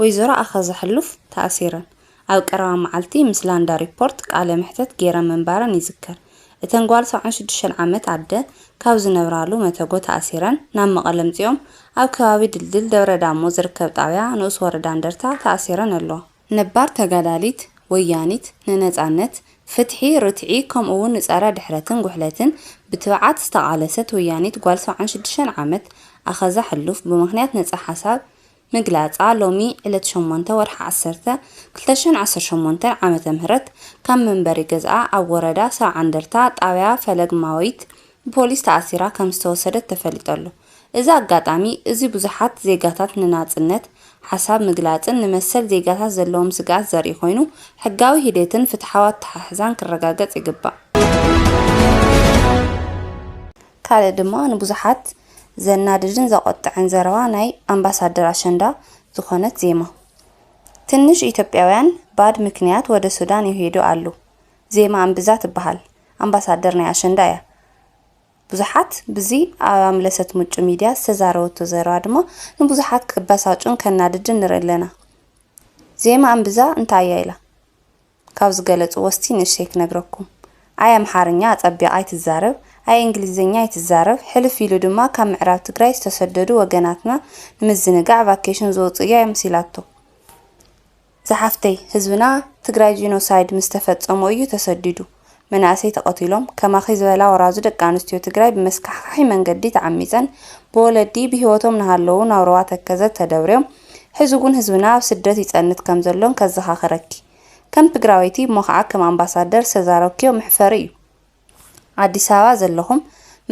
ወይዘሮ ኣኸዘ ሕሉፍ ተኣሲረን ኣብ ቀረባ መዓልቲ ምስ ላንዳ ሪፖርት ቃለ መሕተት ገይረን ምንባረን ይዝከር። እተን ጓል ሰብዓን ሽዱሽተን ዓመት ኣደ ካብ ዝነብራሉ መተጎ ተኣሲረን ናብ መቐለ ኣምፂኦም ኣብ ከባቢ ድልድል ደብረ ዳሞ ዝርከብ ጣብያ ንኡስ ወረዳ እንደርታ ተኣሲረን ኣለዋ። ነባር ተጋዳሊት ወያኒት ንነጻነት፣ ፍትሒ፣ ርትዒ ከምኡ'ውን ንጸረ ድሕረትን ጉሕለትን ብትብዓት ዝተቓለሰት ወያኒት ጓል ሰብዓን ሽዱሽተን ዓመት ኣኸዛ ሕሉፍ ብምኽንያት ነጻ ሓሳብ ምግላጻ ሎሚ ዕለት ሸሞንተ ወርሒ ዓሰርተ ክልተ ሽሕን ዓሰርተ ሸሞንተን ዓመተ ምህረት ካብ መንበሪ ገዝኣ ኣብ ወረዳ ሰብዓ እንደርታ ጣብያ ፈለግማዊት ብፖሊስ ተኣሲራ ከም ዝተወሰደት ተፈሊጠሉ እዚ ኣጋጣሚ እዚ ብዙሓት ዜጋታት ንናጽነት ሓሳብ ምግላጽን ንመሰል ዜጋታት ዘለዎም ስግኣት ዘርኢ ኮይኑ ሕጋዊ ሂደትን ፍትሓዊ ኣተሓሕዛን ክረጋገጽ ይግባእ። ካልእ ድማ ንብዙሓት ዘናድድን ዘቖጥዐን ዘረባ ናይ ኣምባሳደር ኣሸንዳ ዝኾነት ዜማ ትንሽ ኢትዮጵያውያን ባድ ምክንያት ወደ ሱዳን ይሄዱ ኣሉ ዜማ እምብዛ ትበሃል ኣምባሳደር ናይ ኣሸንዳ እያ። ብዙሓት ብዚ ኣብ ኣምለሰት ምጩ ሚድያ ዝተዛረበቶ ዘረባ ድማ ንብዙሓት ከበሳጩን ከናድድን ንርኢ ኣለና። ዜማ እምብዛ እንታይ እያ ኢላ? ካብ ዝገለጽዎ እስቲ ንእሽተይ ክነግረኩም። ኣይ ኣምሓርኛ ኣጸቢቓ ኣይትዛረብ፣ ኣይ እንግሊዘኛ ኣይትዛረብ፣ ሕልፍ ኢሉ ድማ ካብ ምዕራብ ትግራይ ዝተሰደዱ ወገናትና ንምዝንጋዕ ቫኬሽን ዝወጹ እያ መሲላቶ። ዝሓፍተይ ህዝብና ትግራይ ጂኖሳይድ ምስ ተፈፀሞ እዩ ተሰዲዱ መናእሰይ ተቐቲሎም ከማኺ ዝበላ ወራዙ ደቂ ኣንስትዮ ትግራይ ብመስካሕኻሒ መንገዲ ተዓሚፀን ብወለዲ ብሂወቶም ናሃለዉ ናብ ሩባ ተከዘ ተደብርዮም ሕዚ ውን ህዝብና ኣብ ስደት ይፀንት ከምዘሎን ከዘኻኽረኪ ከም ትግራወይቲ እሞ ኻዓ ከም ኣምባሳደር ዝተዛረብክዮ መሕፈሪ እዩ። ኣዲስ ኣበባ ዘለኹም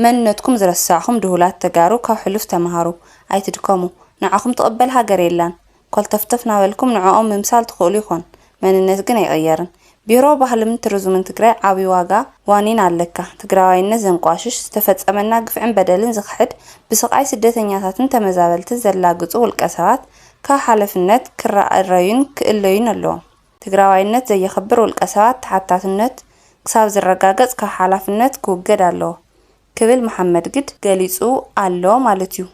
መንነትኩም ዝረሳዕኹም ድሁላት ተጋሩ ካብ ሕሉፍ ተማሃሩ ኣይትድከሙ ንዓኹም ትቅበል ሃገር የላን ኮልተፍተፍ ናበልኩም ንዕኦም ምምሳል ትኽእሉ ይኾን መንነት ግን ኣይቅየርን ቢሮ ባህልምን ትርዙምን ትግራይ ዓብይ ዋጋ ዋኒን ኣለካ ትግራዋይነት ዘንቋሽሽ ዝተፈፀመና ግፍዕን በደልን ዝኽሕድ ብስቃይ ስደተኛታትን ተመዛበልትን ዘላግፁ ውልቀሰባት ካብ ሓለፍነት ክረኣረዩን ክእለዩን ኣለዎም። ትግራዋይነት ዘየኽብር ውልቀሰባት ተሓታትነት ክሳብ ዝረጋገፅ ካብ ሓላፍነት ክውገድ ኣለዎ ክብል መሓመድግድ ገሊፁ ኣሎ ማለት እዩ።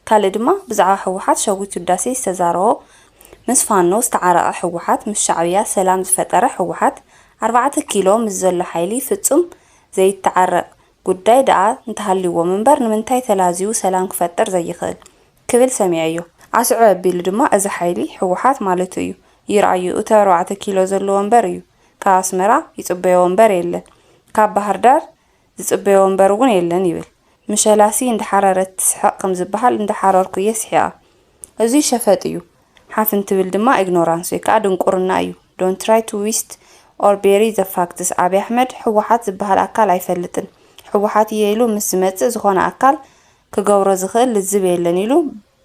ካልእ ድማ ብዛዕባ ህወሓት ሸዊት ውዳሴ ዝተዛረቦ ምስ ፋኖ ዝተዓረቐ ህወሓት ምስ ሻዕብያ ሰላም ዝፈጠረ ህወሓት ኣርባዕተ ኪሎ ምስ ዘሎ ሓይሊ ፍፁም ዘይተዓረቕ ጉዳይ ደኣ እንተሃልዩዎም እምበር ንምንታይ ተላዝዩ ሰላም ክፈጥር ዘይኽእል ክብል ሰሚዐዮ። ኣስዕብ ኣቢሉ ድማ እዚ ሓይሊ ህወሓት ማለቱ እዩ፣ ይርኣዮ እቲ ኣርባዕተ ኪሎ ዘሎ ወንበር እዩ፣ ካብ ኣስመራ ይጽበዮ ወንበር የለን፣ ካብ ባህርዳር ዝጽበዮ ወንበር እውን የለን ይብል። ምሸላሲ እንዳሓረረት ትስሕቕ ከምዝበሃል እንዳሓረርኩ እየ ስሒቐ። እዙይ ሸፈጥ እዩ፣ ሓፍ እንትብል ድማ ኢግኖራንስ ወይ ከዓ ድንቁርና እዩ፣ ዶንት ትራይ ቱ ዊስት ኦር ቤሪ ዘ ፋክትስ፣ ኣብይ ኣሕመድ ህወሓት ዝበሃል ኣካል ኣይፈልጥን፣ ህወሓት እየ ኢሉ ምስ ዝመፅእ ዝኾነ ኣካል ክገብሮ ዝኽእል ልዝብ የለን ኢሉ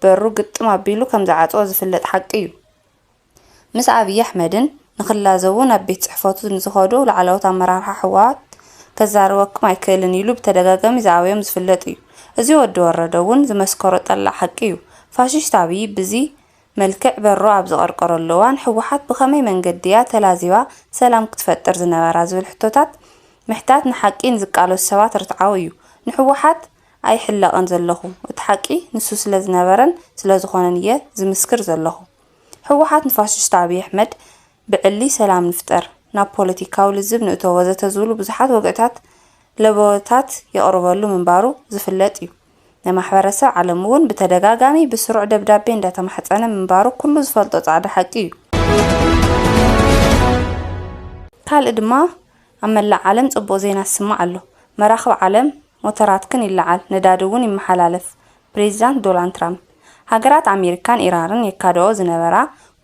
በሩ ግጥም ኣቢሉ ከም ዝዓጽዎ ዝፍለጥ ሓቂ እዩ። ምስ ኣብዪ ኣሕመድን ንኽላዘቡ ናብ ቤት ጽሕፈቱ ንዝኸዱ ላዕለዎት ኣመራርሓ ህወሓት ከዛርበኩም ኣይክእልን ኢሉ ብተደጋጋሚ ዝኣበዮም ዝፍለጥ እዩ። እዚ ወዲ ወረደ እውን ዝመስከሮ ጠላዕ ሓቂ እዩ። ፋሽስት ኣብዪ ብዚ መልክዕ በሩ ኣብ ዝቐርቀረሉ እዋን ህወሓት ብኸመይ መንገዲ እያ ተላዚባ ሰላም ክትፈጥር ዝነበራ ዝብል ሕቶታት ምሕታት ንሓቂ ንዝቃለሱ ሰባት ርትዓዊ እዩ። ንህወሓት ኣይሕለቕን ዘለኹ እቲ ሓቂ ንሱ ስለ ዝነበረን ስለ ዝኾነን እየ ዝምስክር ዘለኹ። ህወሓት ንፋሽስት ኣብይ ኣሕመድ ብዕሊ ሰላም ንፍጠር፣ ናብ ፖለቲካዊ ልዝብ ንእቶ ወዘተ ዝብሉ ብዙሓት ወግዕታት ለበወታት የቕርበሉ ምንባሩ ዝፍለጥ እዩ። ንማሕበረሰብ ዓለም እውን ብተደጋጋሚ ብስሩዕ ደብዳቤ እንዳተማሕፀነ ምንባሩ ኩሉ ዝፈልጦ ፃዕዳ ሓቂ እዩ። ካልእ ድማ ኣብ መላእ ዓለም ጽቡቕ ዜና ዝስማዕ ኣሎ። መራኽብ ዓለም ሞተራትክን ይለዓል፣ ነዳዲ እውን ይመሓላለፍ ፕሬዚዳንት ዶላንድ ትራምፕ። ሃገራት ኣሜሪካን ኢራርን የካድኦ ዝነበራ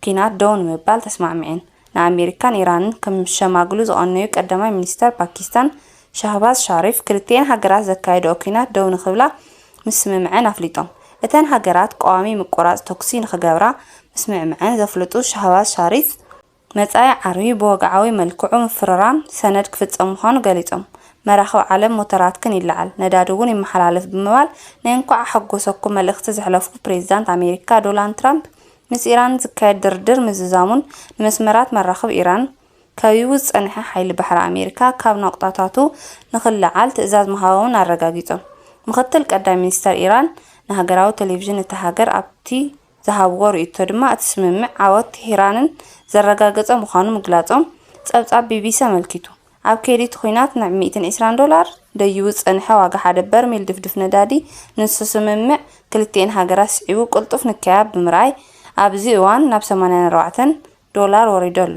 ኲናት ደው ንምባል ተስማዕሚዐን። ንኣሜሪካን ኢራንን ክሸማግሉ ዝቐነዩ ቀዳማይ ሚኒስተር ፓኪስታን ሻህባዝ ሻሪፍ ክልቲኤን ሃገራት ዘካየድኦ ኲናት ደው ንኽብላ ምስምምዐን ኣፍሊጦም። እተን ሃገራት ቀዋሚ ምቁራጽ ተኩሲ ንኽገብራ ምስምዕመዐን ዘፍለጡ ሻህባዝ ሻሪፍ፣ መጻኢ ዓርቢ ብወግዓዊ መልክዑ ምፍርራም ሰነድ ክፍጸም ምዃኑ ገሊጾም፣ መራኽብ ዓለም ሞተራትክን ይለዓል፣ ነዳዲ እውን ይመሓላለፍ ብምባል ናይ እንኳዕ ኣሐጎሰኩም መልእኽቲ ዘሕለፉ ፕሬዚዳንት ኣሜሪካ ዶላንድ ትራምፕ ምስ ኢራን ዝካየድ ድርድር ምዝዛሙን ንመስመራት መራኽብ ኢራን ከቢቡ ዝጸንሐ ሓይሊ ባሕሪ ኣሜሪካ ካብ ናቑጣታቱ ንኽለዓል ትእዛዝ ምሃቦምን ኣረጋጊጾም። ምኽትል ቀዳይ ሚኒስተር ኢራን ንሃገራዊ ቴሌቪዥን እታ ሃገር ኣብቲ ዝሃብዎ ርእይቶ ድማ እቲ ስምምዕ ዓወት ቴህራንን ዘረጋገጸ ምዃኑ ምግላጾም ጸብጻብ ቢቢሲ ኣመልኪቱ። ኣብ ከይዲ እቲ ኲናት ናብ ሚእትን ዒስራን ዶላር ደይቡ ዝጸንሐ ዋጋ ሓደ በርሚል ድፍድፍ ነዳዲ ንሱ ስምምዕ ክልቲኤን ሃገራት ስዒቡ ቅልጡፍ ንከያ ብምርኣይ ኣብዚ እዋን ናብ ሰማንያን ኣርባዕተን ዶላር ወሪዱ ኣሎ።